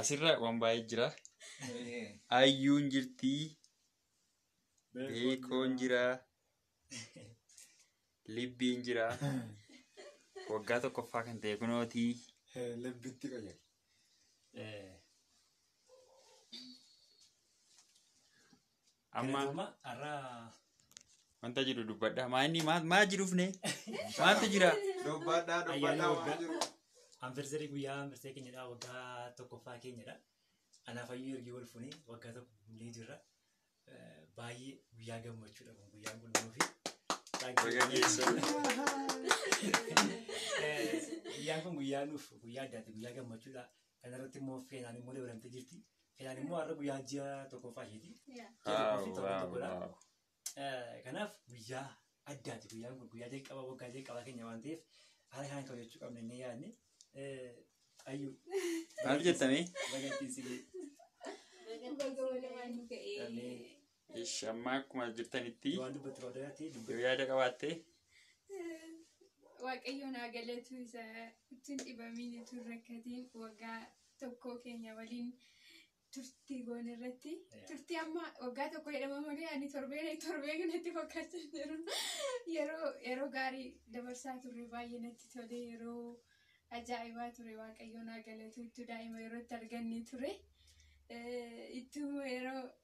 Asirra waan baay'ee jira. Ayyuun jirti. Beekoon jira. Libbiin jira. Waggaa tokkoffaa kan ta'e kunooti. Lebbitti qoyya. Amma Amma har'aa wanta jiru dubbadha. Maa inni maa maa jirufne? Maaltu jira? Dubbadhaa Ayyaana dubbadhaa waggaa. waan jiru. anversarii guyyaa anversee keenyadha waggaa tokkoffaa keenyadha. Anaaf ayyuu ergii wal fuunee waggaa tokko guunnee jirra. Eh, Baay'ee guyyaa gammachuudha kun guyyaan kun nuufi. Baga geessan. Eh, Guyyaan kun guyyaa nuuf guyyaa addaati guyyaa gammachuudha. Kana irratti immoo feenaan immoo dabalamtee jirti. Feenaan immoo har'a guyyaa ji'a tokkoffaa isheeti. Ji'a tokkoo fi torban tokkodha. Eh, Kanaaf guyyaa addaati guyyaan kun guyyaa jalqabaa waggaa jalqabaa keenya waan ta'eef haala kanaan kabajachuu qabna inni yaadne. Eh, Ayyuu. Maal jettanii? Baga ittiin si ga'e. Baga walumaan nu ga'ee. Ameen. Ish amma akkuma jirtanitti Waan dubbatti qabda irratti yoo dubbatti. yaada qabaatte Waaqayyoon haa galatu isa ittiin dhibamiin ittiin rakkatiin waggaa tokkoo keenya waliin turtii goone irratti turtii amma waggaa tokko jedhama malee ani torbee torbee kanatti fakkaachaa jiru yeroo yeroo gaarii dabarsaa turre baay'ee natti tole yeroo ajaa'ibaa ture waaqayyoon haa galatu ittuu daa'ima yeroo itti arganne ture Eh, ittuu yeroo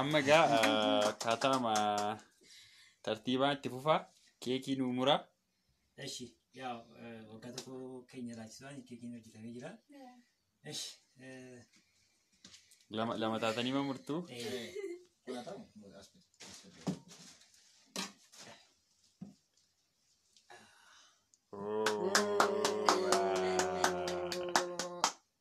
Amma egaa akkaataama tartiibaa itti fufaa keekii nuu muraa. Eshi, yaa waggaa tokko keenya laachisaan keekiin hojjetamee jira. Esh, Lama lama taatanii ma murtuu?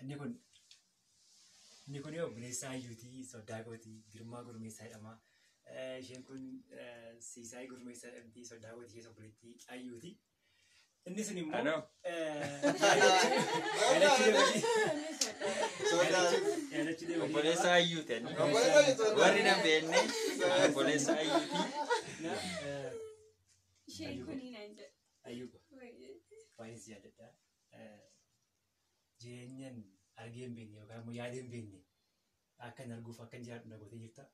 Inni kun inni kun obboleessaa iyyuutii soddaa kooti girmaa gurmeessaa jedhama. Isheen kun siisaayii gurmeessaa jedhamti soddaa kooti ishee obboleettii ayyuuti. Inni sun immoo Anoo. Obboleessa ayyuu ta'e. Obboleessa ayyuu ta'e. Warri na beekne obboleessa ayyuu ti. Isheen kun hin jedhu. Ayyuu baay'ee si yaadadha. eh, jireenyan argee hin beekne yookaan immoo yaadee hin beekne akka hin arguuf akka hin jiraadhu na gootee jirta.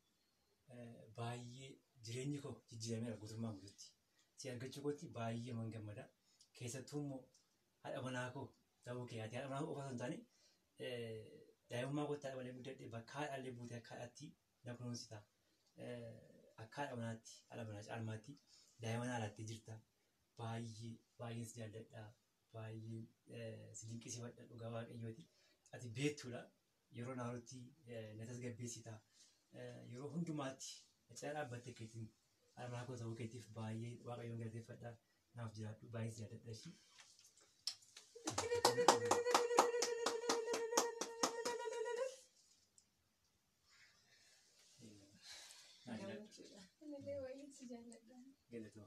Eh, Baay'ee jireenyi koo jijjiirameera guutummaa guututti. Si argachuu kootti baay'ee man gammada. Keessattuu immoo haadha manaa koo ta'uu kee haati haadha manaa koo qofa osoo hin taane eh, daa'imummaa kootti haadha malee guddadhe bakka haadhaallee buutee akka haadhaatti na kunuunsita. Eh, Akka haadha manaatti haadha manaa caalmaatti daa'ima naa laattee jirta. Baay'ee baay'een si jaalladha. Baay'een si dinqisiifadha dhugaa waaqayyooti. Ati beektuudha. Yeroo naarutti na tasgabbeessita. Yeroo hundumaatti na cina dhaabbattee keetiin armaa koo ta'uu keetiif baay'ee waaqayyoon galateeffadha. Naaf jiraadhu baay'ee si yaadadha ishii. Naaf jiraadhu. Galatoo.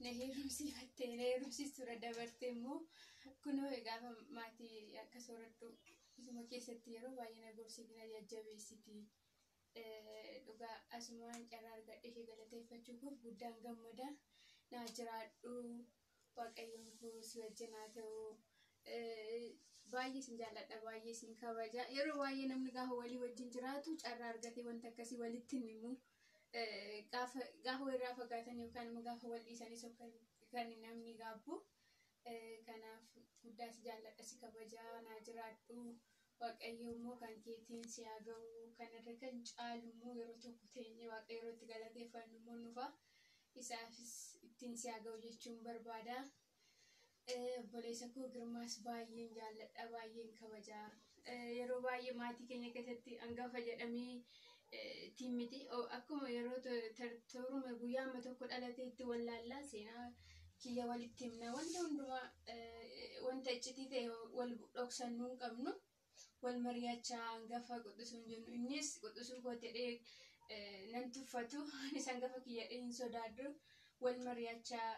na heerumsiifattee na heerumsiisuudha dabartee immoo kunoo gaafa maatii akka soorattu isuma keessatti yeroo baay'ee na gorsiiti na jajjabeessiti. Dhugaa asumaan carraa argadhee ishee galateeffachuu koof guddaan gammada. Naa jiraadhu Waaqayyoon koo si wajjin haa ta'u. Baay'ee isin jaalladha, baay'ee isin kabaja. Yeroo baay'ee namni gaafa walii wajjin jiraatu carraa argatee wanta akkasii walitti hin himu. Gaafa gaafa walirraa fagaatan yookaan immoo gaafa wal dhiisanis yookaan kan namni gaabbu. Kanaaf guddaa si jaalladha, si kabaja, naa jiraadhu. Waaqayyoo immoo kan keetiin si haa ga'u. Kan irra kan caalu immoo yeroo tokko teenyee Waaqayyo yeroo itti galateeffannu immoo hin dhufa. Isaafis ittiin si haa ga'u jechuun barbaada. Obboleessa koo Girmaas baay'een jaalladha, baay'een kabaja. Yeroo baay'ee maatii keenya keessatti hangafa jedhamee tiin miti akkuma yeroo tooruma guyyaa amma tokko dhalatee itti wallaallaa seenaa kiyya walitti himna wanta hundumaa wanta iccitii ta'e wal dhoksannuu hin qabnu wal mari'achaa hangafa quxusuun jennu innis quxusuu koo jedhee nan tuffatu anis hangafa kiyya hin sodaadhu wal mari'achaa,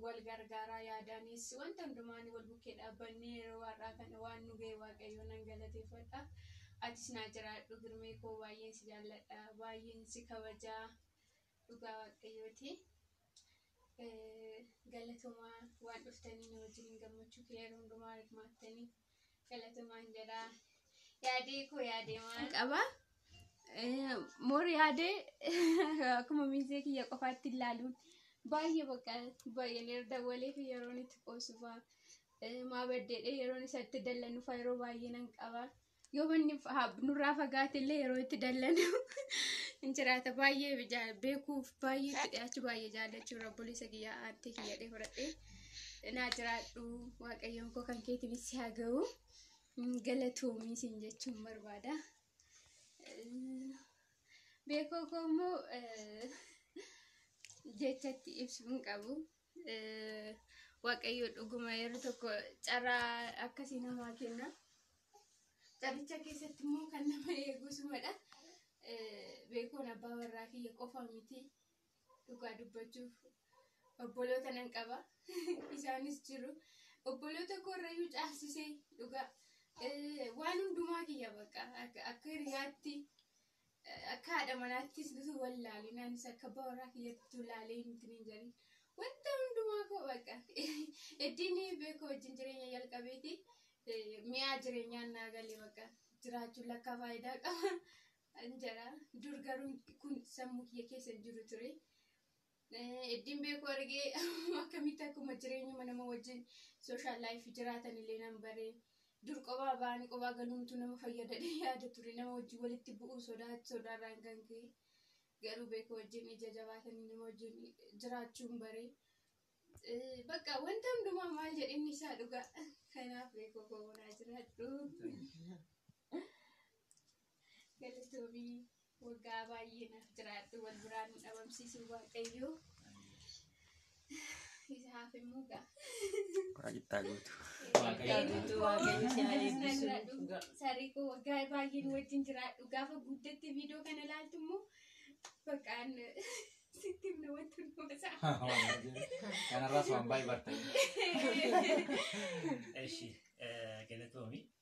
wal gargaaraa yaadaanis wanta hundumaan wal bukkee dhaabbannee yeroo har'aa kana waan nu ga'e waaqayyoo nan galateeffadha. Atis naa jiraadhu Girmee koo baay'een si jaalladha baay'een si kabajaa dhugaa waaqayyooti. Galatomaa waan dhuftanii na wajjin gammachuu kiyya yeroo hundumaa hirmaattanii. Galatumaan jedha. Yaadee koo yaadee waan. qaba. Eh, Moor yaadee akkuma miizee kiyya qofaatti ilaaluun baay'ee bakka baay'een irra dawwalee fi yeroon itti qoosufaa maa baddeedhee yeroon isa itti dallanufaa yeroo baay'ee nan qaba. Yoo manni fa- haa- nurraa fagaate illee yeroo itti dallanu hin jiraata baay'ee jaa- beekuuf baay'ee itti dhiyaachuu baay'ee jaallachuu rabboleessa kiyya aantee kiyya dhee fudhadhee. naa jiraadhu waaqayyoon koo kan keetiinis si haa ga'u Mm, galatoomii siin jechuun barbaada. Eh, Beekoo koo immoo eh, jechatti ibsu hin qabu. Eh, Waaqayyo dhuguma yeroo tokko carraa akkasii namaa kenna. Carricha keessatti immoo kan nama eegusumadha. Eh, Beekoon abbaa warraa kiyya qofa miti. dhugaa dubbachuuf obboloota nan qaba isaanis jiru obboloota koorrayyuu caalsisee dhugaa eh, waan hundumaa kiyya bakka akka akka hiriyaatti eh, akka haadha manaattis bisu wal laaleen anis akka baaraa kiyyatti laalee hin tinin jedhin wanta hundumaa koo bakka eddiin beekoo wajjin jireenya jalqabeeti eh, mi'aa jireenyaan naa galee bakka jiraachuun lakkaa faayidaa qaba An jala dur garuu kun sammuu kiyya keessa hin jiru ture. Eddiin beeku argee akkamitti akkuma jireenyuma nama wajjin sooshaal laayif jiraatan illee nan bare. Dur qobaa ba'anii qobaa galuumtu nama fayyadadhee yaada ture nama wajjin walitti bu'uu sodaa sodaarraan kan ka'e. Garuu beeku wajjin ija jabaatanii nama wajjin jiraachuun bare. Bakka wanta hundumaa maal jedhinni isaa dhugaa. Kanaaf beeku koo bonaa jiraadhu. Galatoomii waggaa baay'ee naaf jiraadhu wal biraa nu dhabamsiisuu waaqayyoo. Isaaf immoo gaa. Waaqittaa guutu. Sarikoo waggaa baay'een wajjin jiraadhu gaafa guddatti viidiyoo kana ilaaltu immoo baqaan sitti himna wanti hundumasaa. Kanarraas waan baay'ee bartanii. Eshi galatoomi